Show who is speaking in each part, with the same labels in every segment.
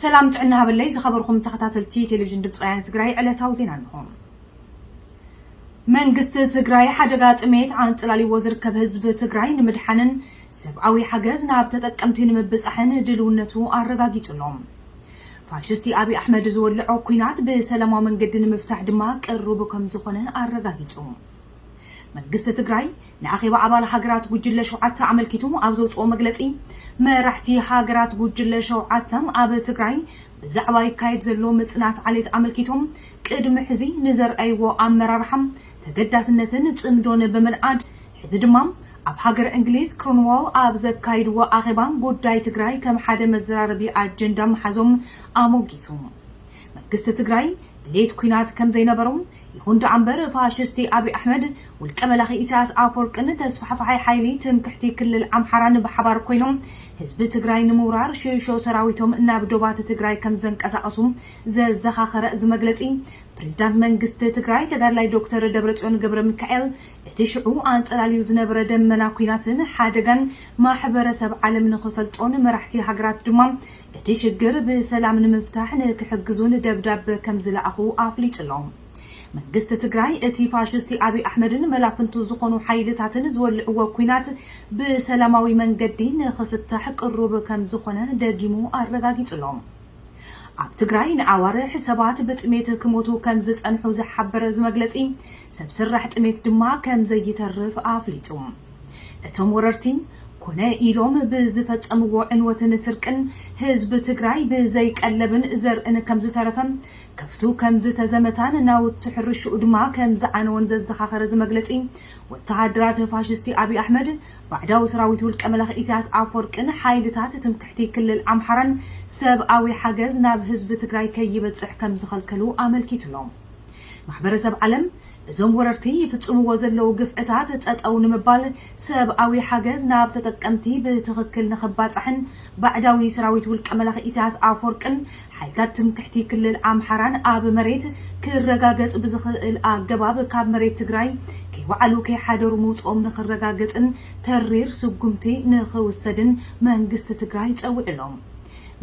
Speaker 1: ሰላም ጥዕና ሃበለይ ዝኸበርኩም ተኸታተልቲ ቴሌቪዥን ድምፂ ወያነ ትግራይ ዕለታዊ ዜና እንሆ። መንግስቲ ትግራይ ሓደጋ ጥሜት ኣንፅላልዎ ዝርከብ ህዝቢ ትግራይ ንምድሓንን ሰብኣዊ ሓገዝ ናብ ተጠቀምቲ ንምብፃሕን ድልውነቱ ኣረጋጊፁ ኣሎ። ፋሽስቲ ኣብይ ኣሕመድ ዝወልዖ ኲናት ብሰላማዊ መንገዲ ንምፍታሕ ድማ ቅሩብ ከምዝኾነ ኣረጋጊፁ። መንግስቲ ትግራይ ንኣኼባ ኣባል ሃገራት ጉጅለ ሸውዓተ ኣመልኪቱ ኣብ ዘውፅኦ መግለፂ፣ መራሕቲ ሃገራት ጉጅለ ሸውዓተ ኣብ ትግራይ ብዛዕባ ይካየድ ዘሎ ምፅናት ዓሌት ኣመልኪቶም ቅድሚ ሕዚ ንዘርኣይዎ ኣመራርሓ ተገዳስነትን ፅምዶን ብምንኣድ ሕዚ ድማ ኣብ ሃገረ እንግሊዝ ክሮንዋል ኣብ ዘካይድዎ ኣኼባ ጉዳይ ትግራይ ከም ሓደ መዘራረቢ ኣጀንዳ ምሓዞም ኣሞጊሱ። መንግስቲ ትግራይ ድሌት ኲናት ከምዘይነበሮ ይኹን ደኣምበር ፋሽስቲ ኣብይ ኣሕመድ፣ ውልቀ መላኺ ኢሳያስ ኣፈወርቅን ተስፋሕፋሓይ ሓይሊ ትምክሕቲ ክልል ኣምሓራን ብሓባር ኮይኖም ህዝቢ ትግራይ ንምውራር ሽሾ ሰራዊቶም ናብ ዶባት ትግራይ ከምዘንቀሳቐሱ ዘዘኻኸረ እዚ መግለጺ ፕሬዚዳንት መንግስቲ ትግራይ ተጋድላይ ዶክተር ደብረጽዮን ገብረሚካኤል እቲ ሽዑ ኣንጸላልዩ ዝነበረ ደመና ኲናትን ሓደጋን ማሕበረሰብ ዓለም ንኽፈልጦን መራሕቲ ሃገራት ድማ እቲ ሽግር ብሰላም ንምፍታሕ ንክሕግዙን ደብዳበ ከምዝለኣኹ ኣፍሊጡ'ሎ። መንግስቲ ትግራይ እቲ ፋሽስቲ ኣብይ ኣሕመድን መላፍንቱ ዝኾኑ ሓይልታትን ዝወልዕዎ ኲናት ብሰላማዊ መንገዲ ንኽፍታሕ ቅሩብ ከምዝኾነ ደጊሙ ኣረጋጊጹ'ሎ። ኣብ ትግራይ ንኣዋርሕ ሰባት ብጥሜት ክሞቱ ከምዝጸንሑ ዝሓበረ እዚ መግለጺ፣ ሰብ ስራሕ ጥሜት ድማ ከምዘይተርፍ ኣፍሊጡ። እቶም ወረርቲ ኮነ ኢሎም ብዝፈፀምዎ ዕንወትን ስርቅን ህዝቢ ትግራይ ብዘይ ቀለብን ዘርእን ከምዝተረፈ፣ ከፍቱ ከምዝተዘመታን ናውቲ ሕርሽኡ ድማ ከምዝዓነወን ዘዘኻኸረ እዚ መግለፂ፣ ወተሃደራት ፋሽስቲ ኣብይ ኣሕመድ፣ ባዕዳዊ ሰራዊት ውልቀ-መላኺ ኢሳያስ ኣፍወርቂን ሓይልታት ትምክሕቲ ክልል ኣምሓራን ሰብኣዊ ሓገዝ ናብ ህዝቢ ትግራይ ከይበፅሕ ከምዝኸልከሉ ኣመልኪቱ'ሎ። ማሕበረሰብ ዓለም እዞም ወረርቲ ይፍፅምዎ ዘለዉ ግፍዕታት ፀፀው ንምባል ሰብኣዊ ሓገዝ ናብ ተጠቀምቲ ብትኽክል ንኽባፃሕን ባዕዳዊ ሰራዊት ውልቀ መላኺ ኢሳያስ ኣፎርቅን ሓይልታት ትምክሕቲ ክልል ኣምሓራን ኣብ መሬት ክረጋገፅ ብዝኽእል ኣገባብ ካብ መሬት ትግራይ ከይወዓሉ ከይሓደሩ ምውፅኦም ንኽረጋገፅን ተሪር ስጉምቲ ንኽውሰድን መንግስቲ ትግራይ ፀዊዑ ኣሎ።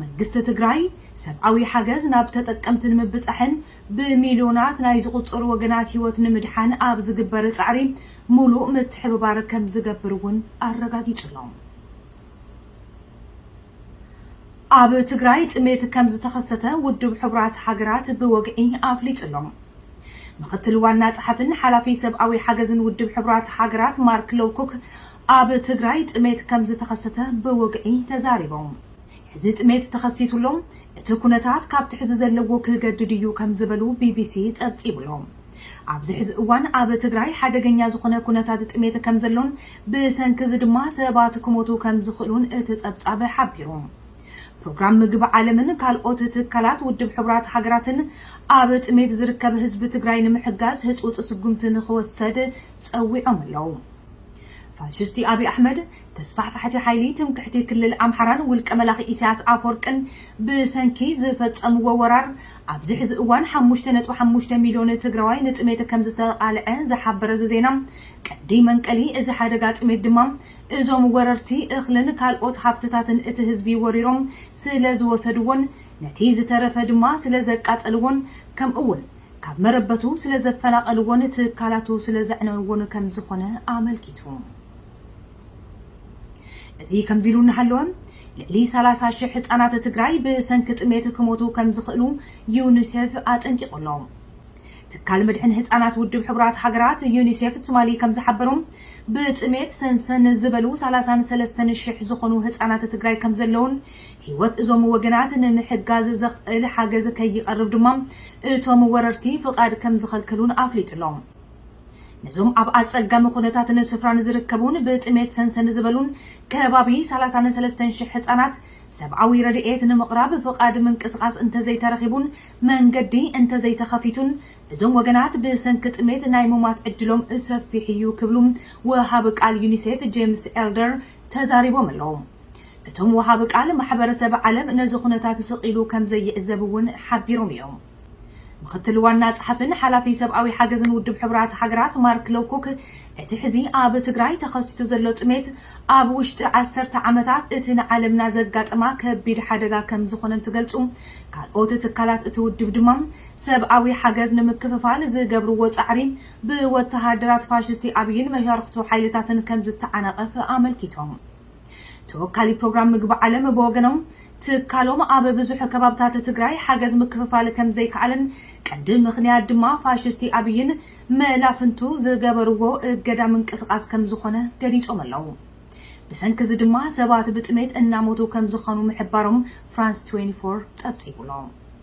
Speaker 1: መንግስቲ ትግራይ ሰብኣዊ ሓገዝ ናብ ተጠቀምቲ ንምብፃሕን ብሚልዮናት ናይ ዝቑጸሩ ወገናት ህይወት ንምድሓን ኣብ ዝግበር ጻዕሪ ሙሉእ ምትሕብባር ከምዝገብር እውን ኣረጋጊጹ ኣሎ። ኣብ ትግራይ ጥሜት ከምዝተኸሰተ ውድብ ሕቡራት ሃገራት ብወግዒ ኣፍሊጡ ኣሎ። ምኽትል ዋና ጸሓፍን ሓላፊ ሰብኣዊ ሓገዝን ውድብ ሕቡራት ሃገራት ማርክ ሎውኩክ ኣብ ትግራይ ጥሜት ከምዝተኸሰተ ብወግዒ ተዛሪቦም። ሕዚ ጥሜት ተኸሲቱሎም እቲ ኩነታት ካብቲ ሕዚ ዘለዎ ክገድድ እዩ ከም ዝበሉ ቢቢሲ ፀብፂቡ'ሎ። ኣብዚ ሕዚ እዋን ኣብ ትግራይ ሓደገኛ ዝኾነ ኩነታት ጥሜት ከም ዘሎን ብሰንኪ እዚ ድማ ሰባት ክሞቱ ከም ዝኽእሉን እቲ ፀብፃብ ሓቢሩ። ፕሮግራም ምግቢ ዓለምን ካልኦት ትካላት ውድብ ሕቡራት ሃገራትን ኣብ ጥሜት ዝርከብ ህዝቢ ትግራይ ንምሕጋዝ ህፁፅ ስጉምቲ ንኽወሰድ ፀዊዖም ኣለው። ፋሽስቲ ኣብይ ኣሕመድ ተስፋሕፋሕቲ ሓይሊ ትምክሕቲ ክልል ኣምሓራን ውልቀ መላኺ ኢሳያስ ኣፍወርቅን ብሰንኪ ዝፈጸምዎ ወራር ኣብዚ ሕዚ እዋን ሓሙሽተ ነጥቢ ሓሙሽተ ሚልዮን ትግራዋይ ንጥሜት ከምዝተቓልዐ ዝሓበረ እዚ ዜና ቀንዲ መንቀሊ እዚ ሓደጋ ጥሜት ድማ እዞም ወረርቲ እኽልን ካልኦት ሃፍትታትን እቲ ህዝቢ ወሪሮም ስለዝወሰድዎን ነቲ ዝተረፈ ድማ ስለዘቃጸልዎን ከምኡ'ውን ካብ መረበቱ ስለዘፈናቐልዎን ትካላቱ ስለዘዕነውዎን ከምዝኾነ ኣመልኪቱ። እዚ ከምዚሉ እናሃለወ ልዕሊ ሰላሳ ሽሕ ህፃናት ትግራይ ብሰንኪ ጥሜት ክሞቱ ከምዝኽእሉ ዩኒሴፍ ኣጠንቂቑ ኣሎ። ትካል መድሕን ህፃናት ውድብ ሕቡራት ሃገራት ዩኒሴፍ ትማሊ ከምዝሓበሮ ብጥሜት ሰንሰን ዝበሉ ሰላሳን ሰለስተን ሽሕ ዝኾኑ ህፃናት ትግራይ ከምዘለውን ህይወት እዞም ወገናት ንምሕጋዝ ዘኽእል ሓገዝ ከይቐርብ ድማ እቶም ወረርቲ ፍቓድ ከምዝኸልከሉን ኣፍሊጡ ኣሎ። ነዞም ኣብ ኣጸጋሚ ኩነታትን ስፍራን ዝርከቡን ብጥሜት ሰንሰን ዝበሉን ከባቢ ሰላሳን ሰለስተን ሽሕ ህጻናት ሰብኣዊ ረድኤት ንምቕራብ ፍቓድ ምንቅስቓስ እንተዘይተረኺቡን መንገዲ እንተዘይተኸፊቱን እዞም ወገናት ብሰንኪ ጥሜት ናይ ሙማት ዕድሎም ሰፊሕ እዩ ክብሉ ወሃቢ ቃል ዩኒሴፍ ጄምስ ኤልደር ተዛሪቦም ኣለዉ። እቶም ወሃቢ ቃል ማሕበረሰብ ዓለም ነዚ ኩነታት ስቕ ኢሉ ከምዘይዕዘብ እውን ሓቢሮም እዮም። ምኽትል ዋና ጸሓፍን ሓላፊ ሰብኣዊ ሓገዝን ውድብ ሕቡራት ሃገራት ማርክ ሎውኩክ፣ እቲ ሕዚ ኣብ ትግራይ ተኸሲቱ ዘሎ ጥሜት፣ ኣብ ውሽጢ ዓሰርተ ዓመታት እቲ ንዓለምና ዘጋጠማ ከቢድ ሓደጋ ከም ዝኾነ እንትገልጹ፣ ካልኦት ትካላት እቲ ውድብ ድማ ሰብኣዊ ሓገዝ ንምክፍፋል ዝገብርዎ ጻዕሪ ብወተሃደራት ፋሽስቲ ኣብይን መሻርኽቱ ሓይልታትን ከም ዝተዓናቐፍ ኣመልኪቶም። ተወካሊ ፕሮግራም ምግቢ ዓለም ብወገኖም፣ ትካሎም ኣብ ብዙሕ ከባብታት ትግራይ ሓገዝ ምክፍፋል ከምዘይከኣለን ቀንዲ ምኽንያት ድማ ፋሽስቲ ኣብይን መላፍንቱ ዝገበርዎ እገዳ ምንቅስቓስ ከምዝኾነ ገሊፆም ኣለው። ብሰንኪ እዚ ድማ ሰባት ብጥሜት እናሞቱ ከምዝኾኑ ምሕባሮም ፍራንስ ትዌንቲ ፎር ፀብፂቡ'ሎ።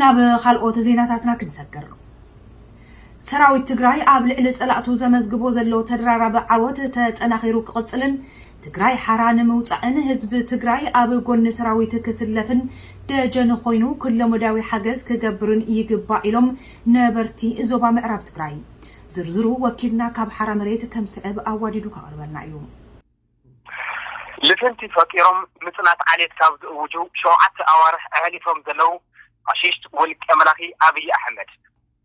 Speaker 1: ናብ ኻልኦት ዜናታትና ክንሰግር። ሰራዊት ትግራይ ኣብ ልዕሊ ፀላእቱ ዘመዝግቦ ዘሎ ተደራራቢ ዓወት ተጠናኺሩ ክቕፅልን ትግራይ ሓራ ንምውፃእን ህዝቢ ትግራይ ኣብ ጎኒ ሰራዊት ክስለፍን ደጀን ኾይኑ ኩለመዳያዊ ሓገዝ ክገብርን ይግባእ ኢሎም ነበርቲ ዞባ ምዕራብ ትግራይ። ዝርዝሩ ወኪልና ካብ ሓራ መሬት ከምስዕብ ኣዋዲዱ ከቕርበልና እዩ። ልፍንቲ
Speaker 2: ፈጢሮም ምፅናት ዓሌት ካብ ዝእውጁ ሸውዓተ ኣዋርሕ ኣሕሊፎም ዘለው ፋሽስት ውልቀ መላኺ ኣብይ ኣሕመድ፣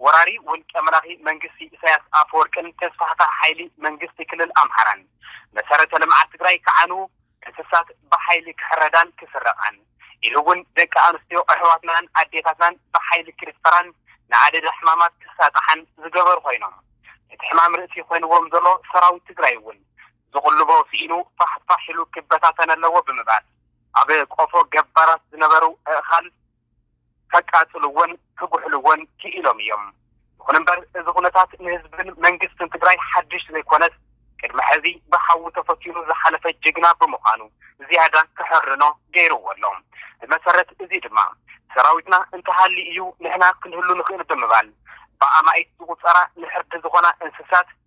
Speaker 2: ወራሪ ውልቀ መላኺ መንግስቲ ኢሳያስ ኣፈወርቅን ተስፋሕፋሕ ሓይሊ መንግስቲ ክልል ኣምሓራን መሰረተ ልምዓት ትግራይ ክዓንው፣ እንስሳት ብሓይሊ ክሕረዳን ክስረቓን ኢሉ እውን ደቂ ኣንስትዮ ኣሕዋትናን ኣዴታትናን ብሓይሊ ክድፈራን ንኣደዳ ሕማማት ክሳጥሓን ዝገበሩ ኮይኖም እቲ ሕማም ርእሲ ኮይንዎም ዘሎ ሰራዊት ትግራይ እውን ዝቕልቦ ስኢኑ ፋሕ ፋሕ ኢሉ ክበታተን ኣለዎ ብምባል፣ ኣብ ቆፎ ገባራት ዝነበሩ ኣእኻል ከቃጽልዎን ክጉሕልዎን ክኢሎም እዮም። ይኹን እምበር እዚ ኩነታት ንህዝብን መንግስትን ትግራይ ሓድሽ ዘይኮነስ ቅድሚ ሕዚ ብሓዊ ተፈቲኑ ዝሓለፈ ጅግና ብምዃኑ ዝያዳ ክሕርኖ ገይርዎ ኣሎ። ብመሰረት እዚ ድማ ሰራዊትና እንተሃልዩ እዩ ንሕና ክንህሉ ንኽእል ብምባል ብኣማኢት ዝቑጸራ ንሕርዲ ዝኾና እንስሳት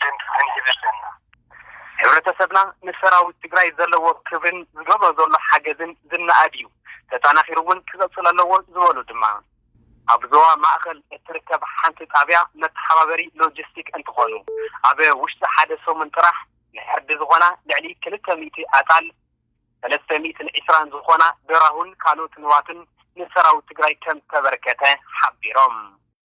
Speaker 3: ደንፊ ክንህብ ኣለና። ሕብረተሰብና
Speaker 2: ንሰራዊት ትግራይ ዘለዎ ክብሪን ዝገብሮ ዘሎ ሓገዝን ዝነኣድ እዩ፣ ተጠናኺሩ እውን ክቕፅል ኣለዎ ዝበሉ ድማ ኣብ ዞባ ማእኸል እትርከብ ሓንቲ ጣብያ መተሓባበሪ ሎጂስቲክ እንትኾኑ ኣብ ውሽጢ ሓደ ሰሙን ጥራሕ ንዕርዲ ዝኾና ልዕሊ ክልተ ሚእቲ ኣጣል፣ ሰለስተ ሚእትን ዕስራን ዝኾና ደራሁን ካልኦት ንዋትን ንሰራዊት ትግራይ ከምዝተበርከተ ሓቢሮም።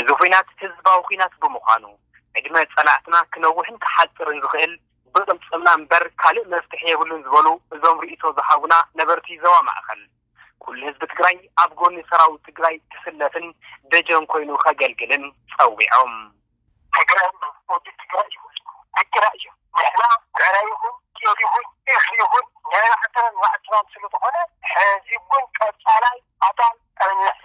Speaker 2: እዚ ኹናት ህዝባዊ ኹናት ብምዃኑ ዕድመ ፀላእትና ክነውሕን ክሓፅርን ዝኽእል ብቅልፅምና እምበር ካልእ መፍትሒ የብሉን ዝበሉ እዞም ሪኢቶ ዝሃቡና ነበርቲ ዞባ ማእኸል ኩሉ ህዝቢ ትግራይ ኣብ ጎኒ ሰራዊት ትግራይ ክስለፍን ደጀን ኮይኑ ከገልግልን ፀዊዖም። ትግራይ ምስ ህዝቢ ትግራይ እዩ ህዝቡ ግድና
Speaker 3: እዩ ንሕና ዕረ ይኹን ጤል ይኹን እኽሊ ይኹን ንዕዕትናን ዋዕትናን ስለዝኾነ ሕዚ እውን ቀፃላይ ኣዳል ዕረ ንሕፊ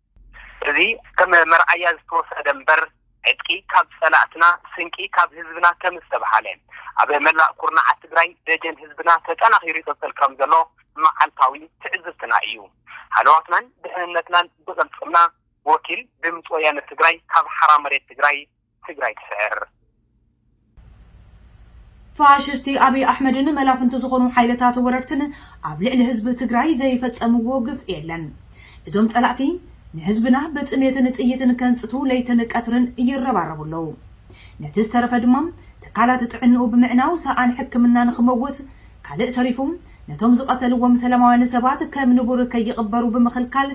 Speaker 2: እዚ ከም መርኣያ ዝተወሰደ እምበር ዕጥቂ ካብ ፀላእትና ስንቂ ካብ ህዝብና ከምዝተብሃለ ኣብ መላእ ኩርናዓት ትግራይ ደጀን ህዝብና ተጠናኺሩ ይቕፅል ከምዘሎ መዓልታዊ ትዕዝብትና እዩ። ሃለዋትናን ድሕንነትናን ብቕልፅምና። ወኪል ድምፂ ወያነ ትግራይ ካብ ሓራ መሬት ትግራይ። ትግራይ
Speaker 1: ትስዕር! ፋሽስቲ ኣብይ ኣሕመድን መላፍንቱ ዝኾኑ ሓይልታት ወረርትን ኣብ ልዕሊ ህዝቢ ትግራይ ዘይፈፀምዎ ግፍዒ የለን። እዞም ፀላእቲ ንህዝብና ብጥሜትን ጥይትን ከንፅቱ ለይትን ቀትርን ይረባረቡ ኣለው። ነቲ ዝተረፈ ድማ ትካላት ጥዕንኡ ብምዕናው ሰኣን ሕክምና ንኽመውት ካልእ ተሪፉ ነቶም ዝቐተልዎም ሰላማውያን ሰባት ከም ንቡር ከይቕበሩ ብምኽልካል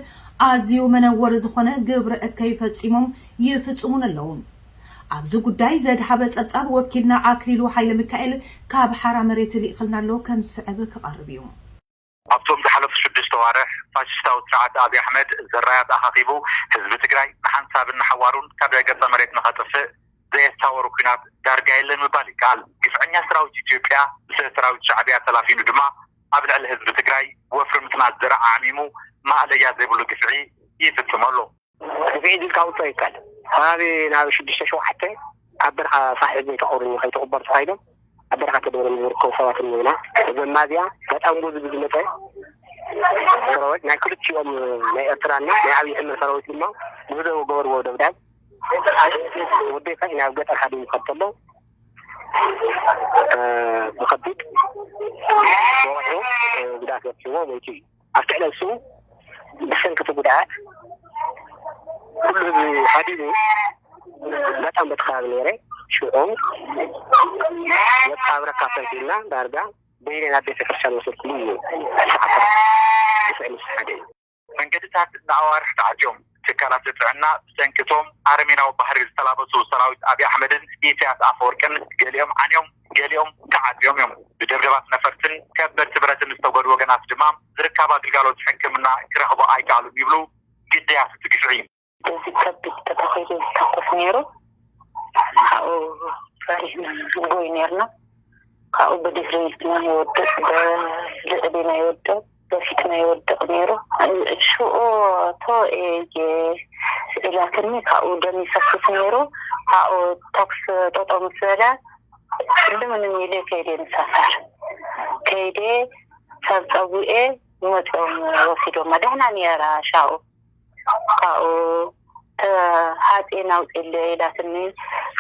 Speaker 1: ኣዝዩ መነወሪ ዝኾነ ግብረ እከይ ፈፂሞም ይፍጽሙን ኣለዉ። ኣብዚ ጉዳይ ዘድሃበ ጸብጻብ ወኪልና ኣክሊሉ ሃይለሚካኤል ካብ ሓራ መሬት ሊእኽልና ኣሎ ከም ዝስዕብ ክቐርብ እዩ። ኣብቶም
Speaker 4: ዝሓለፉ ሽዱሽተ ኣዋርሕ ፋሽሽታዊ ስርዓት ኣብይ ኣሕመድ ዘራያት ኣኻኺቡ ህዝቢ ትግራይ ንሓንሳብን ንሓዋሩን ካብ ገፀ መሬት ንኸጥፍእ ዘየሳወሩ ኲናት ዳርጋ የለን ምባል ይከኣል። ግፍዐኛ ሰራዊት ኢትዮጵያ ብሰራዊት ሻዕብያ ተላፊኑ ድማ ኣብ ልዕሊ ህዝቢ ትግራይ ወፍሪ ምፅናት ዘርኢ ዓዕሚሙ ማእለያ ዘይብሉ ግፍዒ ይፍፅም ኣሎ። ክፍዒድ
Speaker 3: ኢልካ ውጾ ይከል ሃቢ ናብ ሽዱሽተ ሸውዓተ ኣብ በርኻ ሳሒብ ዘይተቆርኝ ከይተቁበር ተኻይዶም ኣብ በርኻ ተደብረ ዝርከቡ ሰባት እኒና ዘማዚያ ተጠንቡ ዝብ ዝመፀ ሰራዊት ናይ ክልቲኦም ናይ ኤርትራና ናይ ዓብዪ ሕመድ ሰራዊት ድማ ብህደው ገበርዎ ደብዳብ ወዴታ ናብ ገጠር ሓደ ይኸድ ተሎ ብከቢድ ወቅዑ ጉዳት በፅዎ ወይቲ እዩ ኣብቲ ዕለት እሱ ብሰንኪ እቲ ጉድኣት ኩሉ ህዝቢ ሃዲሙ በጣም በቲ ከባቢ ነይረ ሽዑ መቃብረካ ሰንኪልና ዳርጋ በይነይ ናብ ቤተ ክርስቲያን ወሰድኩ እዩ እቲ ሓፈራ ብስዕሊ
Speaker 4: ሓደ እዩ መንገድታት ንኣዋርሕ ተዓጽዮም። ትካላት ጥዕና ብሰንኪ እቶም ኣረሜናዊ ባህሪ ዝተላበሱ ሰራዊት ኣብይ ኣሕመድን ኢሳያስ ኣፈወርቅን ገሊኦም ዓንዮም ገሊኦም ተዓጽዮም እዮም። ብደብደባት ነፈርትን ከበድቲ ብረትን ዝተጎድኡ ወገናት ድማ ዝርካባ ግልጋሎት ሕክምና ክረኽቡ ኣይከኣሉን ይብሉ ግዳያት እቲ ግፍዒ። በዚ ከቢድ ተተኺሉ ዝተኩስ ነይሩ። ካብኡ ፈሪህና ንጎይ ነይርና።
Speaker 5: ካብኡ ብድሕሪ ናይ ወደቅ ብልዕሊ ናይ ወደቅ በፊትና ይወድቅ ነይሩ ሽኡ እቶ እየ ኢላትኒ ካብኡ ደም ይፈስስ ነይሩ ኣብኡ ተኩስ ጠጦ ምስ በለ ልምንም ኢለ ከይደ ምሳሳር ከይደ ሰብ ፀዊኤ መፅኦም ወሲዶማ ደሕና ነይራ ሻኡ ካብኡ ሃፂን ኣውፅእለይ ኢላትኒ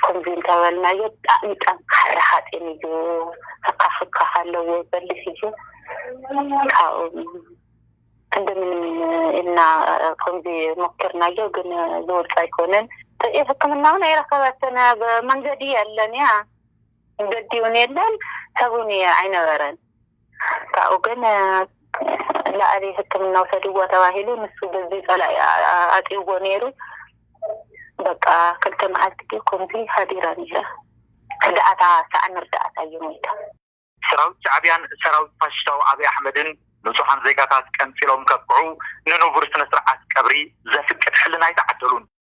Speaker 5: ከምዚ እንተበልናዮ ብጣዕሚ ጠንካራ ሃፂን እዩ ህካክ ህካክ ኣለዎ በሊሕ እዩ ካብኡ እንደምንም ኢልና ከምዚ ሞኪርናዮ ግን ዝወፅ ኣይኮነን ሕክምና እውን ኣይረከበትን ኣብ መንገዲ የለን እያ መንገዲ እውን የለን ሰብን ኣይነበረን ካብኡ ግን ላዕሊ ሕክምና ውሰድዎ ተባሂሉ ንሱ በዚ ፀላኢ ኣጥይዎ ነይሩ በቃ ክልተ መዓልቲ ድዩ ከምዚ ሃዲራ ነይረ ርዳእታ ሳዕኒ ርዳእታ እዩ ሞይታ። ሰራዊት
Speaker 4: ሻዕቢያን ሰራዊት ፋሽሽታዊ ኣብይ ኣሕመድን ንፁሃን ዜጋታት ቀንፂሎም ከብቅዑ ንኑቡር ስነ ስርዓት ቀብሪ ዘፍቅድ ሕልና ኣይተዓደሉን።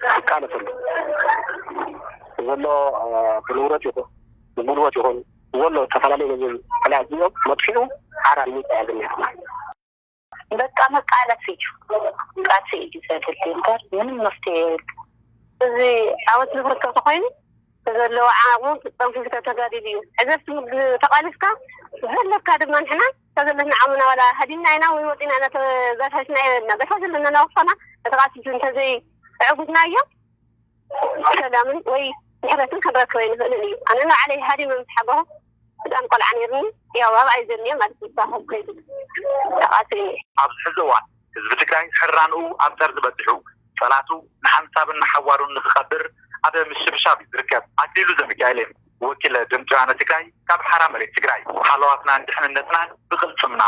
Speaker 3: ዝቃለሰሉ ዘሎ ብንብረት ይኹን ብጉልበት ይኹን ዘሎ ዝተፈላለዩ ገንዘብ ዕዳ እዚኦም መጥፊኡ ሓራ ንሚጣ እያ ዝኒሃና።
Speaker 5: በቃ መቃለሲ እዩ ቃልሲ እዩ ዘድሊ እምበር ምንም መፍትሄ የብሉ። እዚ ዓወት ዝብርቶ ተኮይኑ ዘለዎ ዓቕሙ ጠንፊፍካ ተጋዲሉ እዩ ሕዘ ተቓሊስካ ዘለካ ድማ ንሕና ክሳብ ዘለና ዓምና ዋላ ሃዲምና ኢና ወይ ወጺእና ኢና ተበታቲና የበልና በታ ዘለና ናውፋና ተተቃጺሉ እንተዘይ ኣዕጉድናዮ ሰላምን ወይ ምሕረትን ክንረክብ ኣይንኽእልን እዩ ኣነ ንባዕለይ ሃዲመ ምስ ሓገኹ ህጻን ቆልዓ ነይርኒ ያው ኣብኣይ ዘኒየ ማለት እዩ ሳሆ ከይዱ ተቃጺሉ ኣብዝሕዚ
Speaker 4: እዋን ህዝቢ ትግራይ ሕራንኡ ኣብ ጠርዚ በጺሑ ጸላቱ ንሓንሳብን ንሓዋሩን ንኽቐብር ኣብ ምሽብሻብ እዩ ዝርከብ። ኣክሊሉ ዘሚካኤሌም ወኪል ድምጺ ወያነ ትግራይ ካብ ሓራ መሬት ትግራይ። ሃለዋትናን ድሕንነትናን ብቕልጽምና!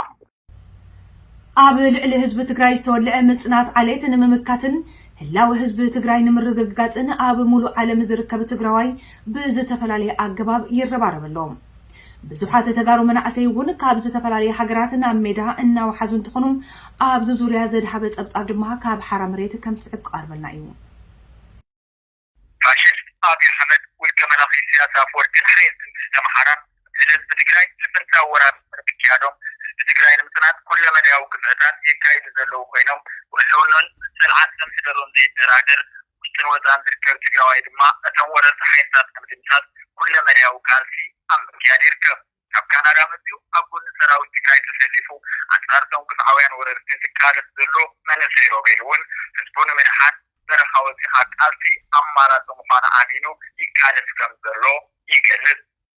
Speaker 1: ኣብ ልዕሊ ህዝቢ ትግራይ ዝተወልዐ ምፅናት ዓሌት ንምምካትን ህላወ ህዝቢ ትግራይ ንምርግጋፅን ኣብ ሙሉእ ዓለም ዝርከብ ትግራዋይ ብዝተፈላለየ ኣገባብ ይረባረብ ኣሎ። ብዙሓት ተጋሩ መናእሰይ እውን ካብ ዝተፈላለየ ሃገራት ናብ ሜዳ እናወሓዙ እንትኾኑ ኣብዚ ዙርያ ዘድሃበ ፀብፃብ ድማ ካብ ሓራ መሬት ከም ዝስዕብ ክቐርበልና እዩ።
Speaker 4: ፋሽስት ኣብይ ኣሕመድ ውልቀ መላኺ ኢሰያስ ኣፍወርቂን ሓይሊ መንግስቲ ኣምሓራን ልዕሊ ህዝቢ ትግራይ ልፍንታዊ ወራር ድሕሪ ምክያዶም ህዝቢ ትግራይ ንምፅናት ኩለመዳያዊ ግፍዕታት የካይዱ ዘለዉ ኮይኖም ብህልውንኡን ፅንዓት ከምሕደሩን ዘይደራደር ውሽጥን ወፃእን ዝርከብ ትግራዋይ ድማ እቶም ወረርቲ ሓይልታት ንምድምሳስ ኩለ መዳያዊ ቃልሲ ኣብ ምክያድ ይርከብ። ካብ ካናዳ መፂኡ ኣብ ጎኒ ሰራዊት ትግራይ ተሰሊፉ ኣንፃር እቶም ግፍዓውያን ወረርቲ ዝቃለስ ዘሎ መንእሰይ ሮቤል እውን ህዝቡ ንምድሓን በረኻ ወፂእኻ ቃልሲ ኣማራፂ ምዃኑ ኣሚኑ ይቃለስ ከም ዘሎ ይገልፅ።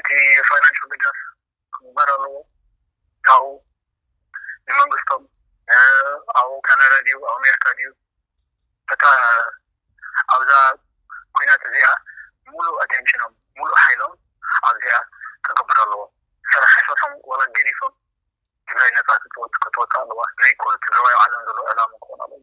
Speaker 3: እቲ ፋይናንሻል ድጋፍ ክግበር ኣለዎ ካብኡ ንመንግስቶም ኣብኡ ካናዳ ድዩ ኣብ ኣሜሪካ ድዩ በታ ኣብዛ ኩናት እዚኣ ሙሉእ ኣቴንሽኖም ሙሉእ ሓይሎም ኣብዚኣ ክገብር ኣለዎ ስራሕ ኣይሰርሑን ዋላ ገዲፎም ትግራይ ነፃ ክትወፅእ ክትወፅእ ኣለዋ ናይ ኩሉ ትግራዋይ ኣብ ዓለም ዘሎ ዕላማ ክኮን ኣለዎ።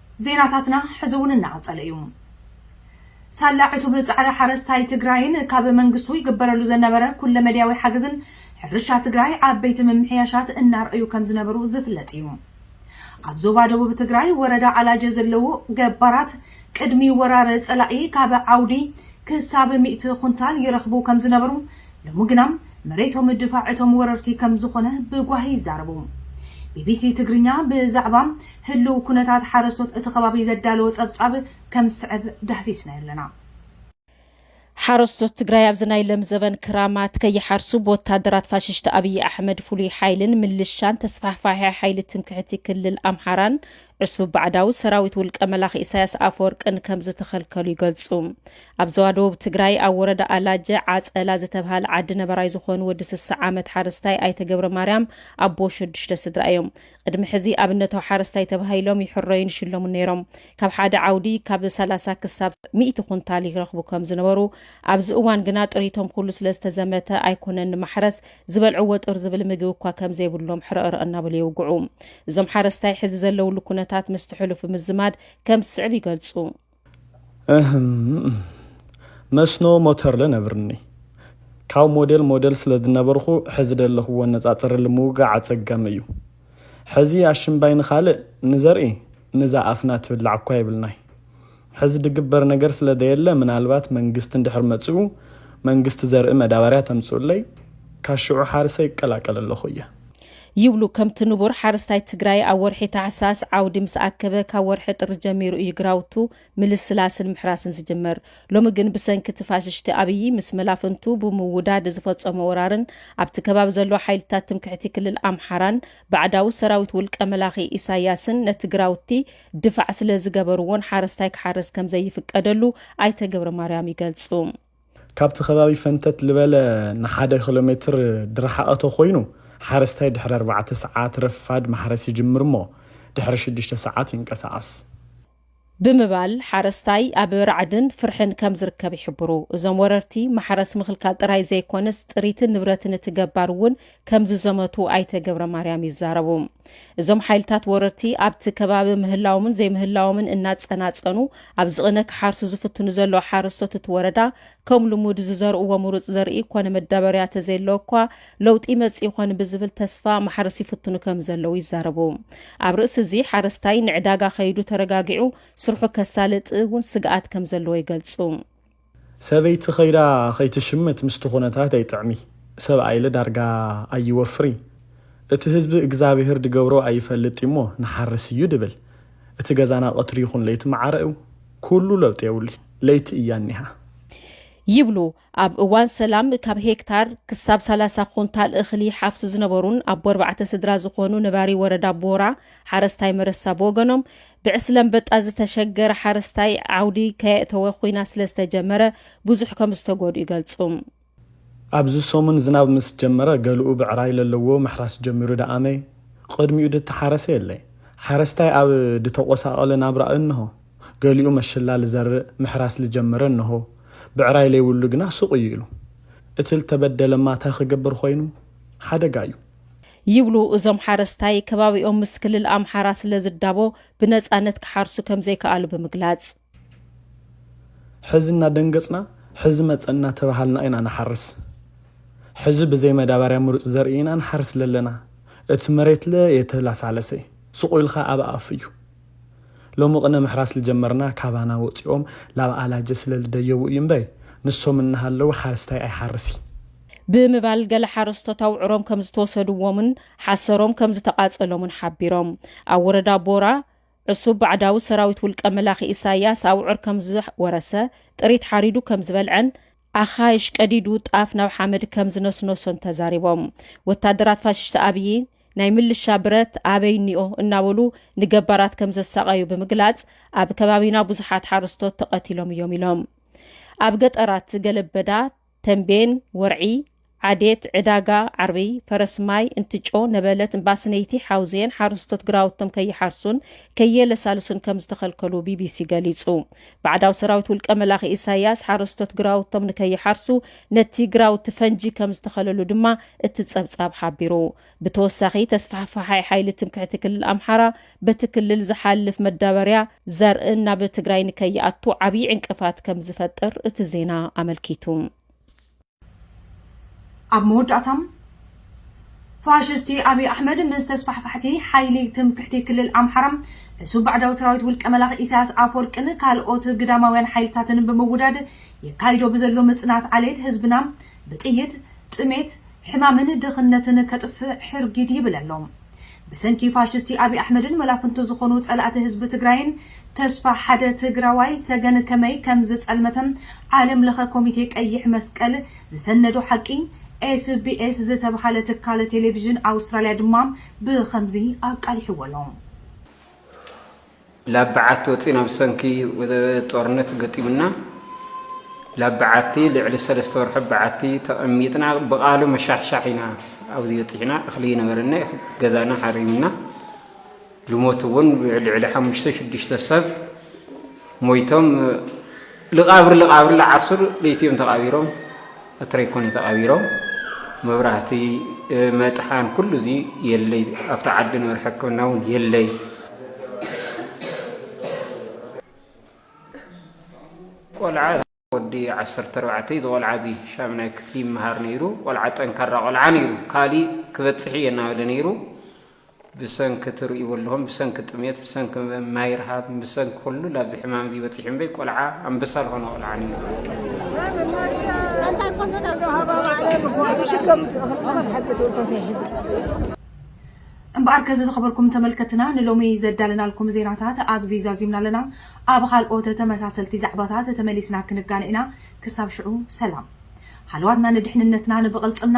Speaker 1: ዜናታትና ሕዚ እውን እናቐፀለ እዩ። ሳላ ዕቱብ ፃዕሪ ሓረስታይ ትግራይን ካብ መንግስቱ ይግበረሉ ዘነበረ ኩለ መዳያዊ ሓገዝን ሕርሻ ትግራይ ዓበይቲ ምምሕያሻት እናርኣዩ ከምዝነበሩ ዝፍለጥ እዩ። ኣብ ዞባ ደቡብ ትግራይ ወረዳ ኣላጀ ዘለዉ ገባራት ቅድሚ ወራር ፀላኢ ካብ ዓውዲ ክሳብ ሚእቲ ኩንታል ይረኽቡ ከምዝነበሩ ሎሚ ግና መሬቶም ድፋዕ እቶም ወረርቲ ከምዝኾነ ብጓሂ ይዛረቡ። ቢቢሲ ትግርኛ ብዛዕባ ህልው ኩነታት ሓረስቶት እቲ ከባቢ ዘዳለዎ ፀብፃብ ከም ዝስዕብ ዳህሲስናዮ ኣለና። ሓረስቶት
Speaker 6: ትግራይ ኣብዚ ናይ ለም ዘበን ክራማት ከይሓርሱ ብወታደራት ፋሽሽቲ ኣብይ ኣሕመድ ፍሉይ ሓይልን ምልሻን ተስፋሕፋሒ ሓይሊ ትምክሕቲ ክልል ኣምሓራን ዕሱብ ባዕዳዊ ሰራዊት ውልቀ መላኺ ኢሳያስ ኣፈወርቅን ከም ዝተኸልከሉ ይገልጹ። ኣብ ዘዋ ደቡብ ትግራይ ኣብ ወረዳ ኣላጀ ዓፀላ ዝተብሃል ዓዲ ነበራይ ዝኾኑ ወዲ ስሳ ዓመት ሓረስታይ ኣይተ ገብረ ማርያም ኣቦ ሸዱሽተ ስድራ እዮም። ቕድሚ ሕዚ ኣብነታዊ ሓረስታይ ተባሂሎም ይሕረዩን ይሽለሙን ነይሮም። ካብ ሓደ ዓውዲ ካብ ሰላሳ ክሳብ ሚእቲ ኩንታል ይረኽቡ ከም ዝነበሩ፣ ኣብዚ እዋን ግና ጥሪቶም ኩሉ ስለ ዝተዘመተ ኣይኮነን ንማሕረስ፣ ዝበልዕዎ ጥር ዝብል ምግቢ እኳ ከም ዘይብሎም ሕረእረእ እናበሉ የውግዑ። እዞም ሓረስታይ ሕዚ ዘለውሉ ኩነታት ምስቲ ሕሉፍ ብምዝማድ ከም ዝስዕብ ይገልጹ።
Speaker 7: መስኖ ሞተርለ ነብርኒ ካብ ሞዴል ሞዴል ስለ ዝነበርኹ ሕዚ ደለኽዎ ነፃፅርሊ ምውጋዕ ኣፀጋሚ እዩ ሕዚ ኣሽምባይ ንኻልእ ንዘርኢ ንዛ ኣፍና ትብላዕ እኳ የብልናይ ሕዚ ድግበር ነገር ስለ ዘየለ ምናልባት መንግስቲ እንድሕር መፅኡ መንግስቲ ዘርኢ መዳበርያ ተምፅኡለይ ካብ ሽዑ ሓርሰ ይቀላቀል ኣለኹ እየ ይብሉ
Speaker 6: ከምቲ ንቡር ሓረስታይ ትግራይ ኣብ ወርሒ ታሕሳስ ዓውዲ ምስ ኣከበ ካብ ወርሒ ጥሪ ጀሚሩ እዩ ግራውቱ ምልስላስን ምሕራስን ዝጅመር። ሎሚ ግን ብሰንኪ እቲ ፋሽሽቲ ኣብዪ ምስ መላፍንቱ ብምውዳድ ዝፈፀሞ ወራርን ኣብቲ ከባቢ ዘሎ ሓይልታት ትምክሕቲ ክልል ኣምሓራን ባዕዳዊ ሰራዊት ውልቀ መላኺ ኢሳያስን ነቲ ግራውቲ ድፋዕ ስለዝገበርዎን ሓረስታይ ክሓርስ ከምዘይፍቀደሉ ኣይተ ገብረማርያም ይገልፁ። ካብቲ
Speaker 7: ከባቢ ፈንተት ልበለ ንሓደ ክሎ ሜትር ድርሓቐ ተኮይኑ ሓረስታይ ድሕሪ ኣርባዕተ ሰዓት ረፋድ ማሕረስ ይጅምር እሞ ድሕሪ ሽዱሽተ ሰዓት ይንቀሳቐስ። ብምባል ሓረስታይ ኣብ ራዕድን ፍርሕን ከም ዝርከብ ይሕብሩ። እዞም ወረርቲ ማሕረስ ምኽልካል ጥራይ ዘይኮነስ ጥሪትን ንብረትን እቲ ገባር እውን ከምዝዘመቱ ኣይተ ገብረማርያም ይዛረቡ። እዞም ሓይልታት ወረርቲ ኣብቲ ከባቢ ምህላዎምን ዘይምህላዎምን እናፀናፀኑ ኣብ ዝቕነ ክሓርሱ ዝፍትኑ ዘለዉ ሓረስቶት እቲ ወረዳ ከም ልሙድ ዝዘርእዎ ምሩፅ ዘርኢ ኮነ መዳበርያ ተዘየለዎ እኳ ለውጢ መፅ ይኾን ብዝብል ተስፋ ማሕረስ ይፍትኑ ከም ዘለዉ ይዛረቡ። ኣብ ርእሲ እዚ ሓረስታይ ንዕዳጋ ከይዱ ተረጋጊዑ ስርሑ ከሳልጥ እውን ስግኣት ከም ዘለዎ ይገልፁ። ሰበይቲ ከይዳ ከይትሽምት ምስቲ ኩነታት ኣይጥዕሚ ሰብኣይለ ዳርጋ ኣይወፍሪ እቲ ህዝቢ እግዛብሄር ድገብሮ ኣይፈልጥ እዩሞ ንሓርስ እዩ ድብል እቲ ገዛና ቀትሪ ይኩን ለይቲ ማዓረ እዩ ኩሉ ለውጢ የብሉ ለይቲ እያ እኒሃ ይብሉ
Speaker 6: ኣብ እዋን ሰላም ካብ ሄክታር ክሳብ ሰላሳ ኩንታል እክሊ ይሓፍሱ ዝነበሩን ኣቦ ኣርባዕተ ስድራ ዝኮኑ ነባሪ ወረዳ ቦራ ሓረስታይ መረሳ ብወገኖም ብዕስለ ኣንበጣ ዝተሸገረ ሓረስታይ ዓውዲ ከየእተወ ኹናት ስለዝተጀመረ ብዙሕ ከምዝተጎድኡ ይገልፁ።
Speaker 7: ኣብዚ ሰሙን ዝናብ ምስ ጀመረ ገለኡ ብዕራይ ለለዎ ምሕራስ ጀሚሩ ደኣመ ቕድሚኡ ድተሓረሰ የለ። ሓረስታይ ኣብ ድተቖሳቐለ ናብራ እንሆ ገሊኡ መሽላ ልዘርእ ምሕራስ ልጀመረ እንሆ ብዕራይ ለይብሉ ግና ሱቕ እዩ ኢሉ። እቲ ልተበደለማ ታይ ኽገብር ኾይኑ? ሓደጋ እዩ። ይብሉ
Speaker 6: እዞም ሓረስታይ፣ ከባቢኦም ምስ ክልል ኣምሓራ ስለዝዳቦ ብነፃነት ክሓርሱ ከምዘይከኣሉ ብምግላፅ።
Speaker 7: ሕዚ እናደንገፅና ሕዚ መፀ እናተብሃልና ኢና ንሓርስ። ሕዚ ብዘይ መዳባርያ ምሩፅ ዘርኢ ኢና ንሓርስ ለለና። እቲ መሬት ለ የተላሳለሰ፣ ሱቕ ኢልኻ ኣብ ኣፍ እዩ። ሎሚ ቕነ ምሕራስ ልጀመርና ካባና ወፂኦም ላብ ኣላጀ ስለልደየቡ እዩ እምበይ ንሶም እናሃለዉ ሓረስታይ ኣይሓርስይ። ብምባል
Speaker 6: ገለ ሓረስቶት ኣውዕሮም ከምዝተወሰድዎምን ሓሰሮም ከምዝተቓፀሎምን ሓቢሮም። ኣብ ወረዳ ቦራ ዕሱብ ባዕዳዊ ሰራዊት ውልቀ መላኺ ኢሳያስ ኣውዕር ከምዝወረሰ፣ ጥሪት ሓሪዱ ከምዝበልዐን ኣኻይሽ ቀዲዱ ጣፍ ናብ ሓመድ ከምዝነስነሶን ተዛሪቦም። ወታደራት ፋሽስት ኣብዪ ናይ ምልሻ ብረት ኣበይ እኒኦ እናበሉ ንገባራት ከምዘሳቐዩ ብምግላፅ ኣብ ከባቢና ብዙሓት ሓረስቶት ተቐቲሎም እዮም ኢሎም። ኣብ ገጠራት ገለበዳ ተምቤን፣ ወርዒ፣ ዓዴት፣ ዕዳጋ ዓርቢ፣ ፈረስማይ፣ እንትጮ፣ ነበለት፣ እምባስነይቲ፣ ሓውዜን ሓረስቶት ግራውቶም ከይሓርሱን ከየለሳልሱን ከምዝተኸልከሉ ቢቢሲ ገሊጹ። ባዕዳዊ ሰራዊት ውልቀ መላኺ ኢሳይያስ ሓረስቶት ግራውቶም ንከይሓርሱ ነቲ ግራውቲ ፈንጂ ከምዝተኸለሉ ድማ እቲ ጸብጻብ ሓቢሩ። ብተወሳኺ ተስፋሕፋሓይ ሓይሊ ትምክሕቲ ክልል ኣምሓራ በቲ ክልል ዝሓልፍ መዳበርያ ዘርእን ናብ ትግራይ ንከይኣቱ ዓብዪ ዕንቅፋት ከም ዝፈጥር እቲ ዜና ኣመልኪቱ።
Speaker 1: ኣብ መወዳእታ ፋሽስቲ ኣብይ ኣሕመድ ምስ ተስፋሕፋሕቲ ሓይሊ ትምክሕቲ ክልል ኣምሓራ እሱ ባዕዳዊ ሰራዊት ውልቀ መላኽ ኢሳያስ ኣፈወርቅን ካልኦት ግዳማውያን ሓይልታትን ብምውዳድ የካይዶ ብዘሎ ምጽናት ዓሌት ህዝብና ብጥይት፣ ጥሜት፣ ሕማምን ድኽነትን ከጥፍእ ሕርጊድ ይብል ኣሎ። ብሰንኪ ፋሽስቲ ኣብይ ኣሕመድን መላፍንቱ ዝኾኑ ፀላእቲ ህዝቢ ትግራይን ተስፋ ሓደ ትግራዋይ ሰገን ከመይ ከምዝፀልመተ ዓለም ለኸ ኮሚቴ ቀይሕ መስቀል ዝሰነዶ ሓቂ SBS ዝተብሃለ ትካል ቴሌቪዥን ኣውስትራሊያ ድማ ብኸምዚ ኣቃሊሕዎ ኣሎ።
Speaker 8: ላብ በዓቲ ወጺእና ብሰንኪ ጦርነት ገጢሙና ላብ በዓቲ ልዕሊ ሰለስተ ወርሒ ኣብ በዓቲ ተቐሚጥና ብቓሉ መሻሕሻሕ ኢና ኣብዚ በጺሕና እኽሊ ይነበረና ገዛና ሓሪምና ልሞት እውን ልዕሊ ሓሙሽተ ሽዱሽተ ሰብ ሞይቶም ልቓብር ልቓብር ልዓሱር ልኢትዮም ተቓቢሮም ኣትረይ ኮን እዩ ተቓቢሮም መብራህቲ መጥሓን ኩሉ እዚ የለይ ኣብቲ ዓዲ ንበር ሕክምና እውን የለይ ቆልዓ ወዲ ዓሰርተ ኣርባዕተ ዝቆልዓ እዚ ሻምናይ ክፍሊ ይመሃር ነይሩ ቆልዓ ጠንካራ ቆልዓ ነይሩ ካሊእ ክበፅሕ እየ እናበለ ነይሩ ብሰንኪ ትርእይዎ ኣለኹም ብሰንኪ ጥሜት ብሰንኪ ማይ ረሃብ ብሰንኪ ኩሉ ላብዚ ሕማም እዚ በጺሑ እምበይ ቆልዓ ኣንበሳ ዝኾነ ቆልዓ ነይሩ።
Speaker 1: እምበኣር ከዚ ዝኸበርኩም ተመልከትና ንሎሚ ዘዳለናልኩም ዜናታት ኣብዚ ዛዚምና ኣለና። ኣብ ኻልኦት ተመሳሰልቲ ዛዕባታት ተመሊስና ክንጋነ ኢና ክሳብ ሽዑ ሰላም። ሃለዋትና ንድሕንነትና ንብቕልጽምና!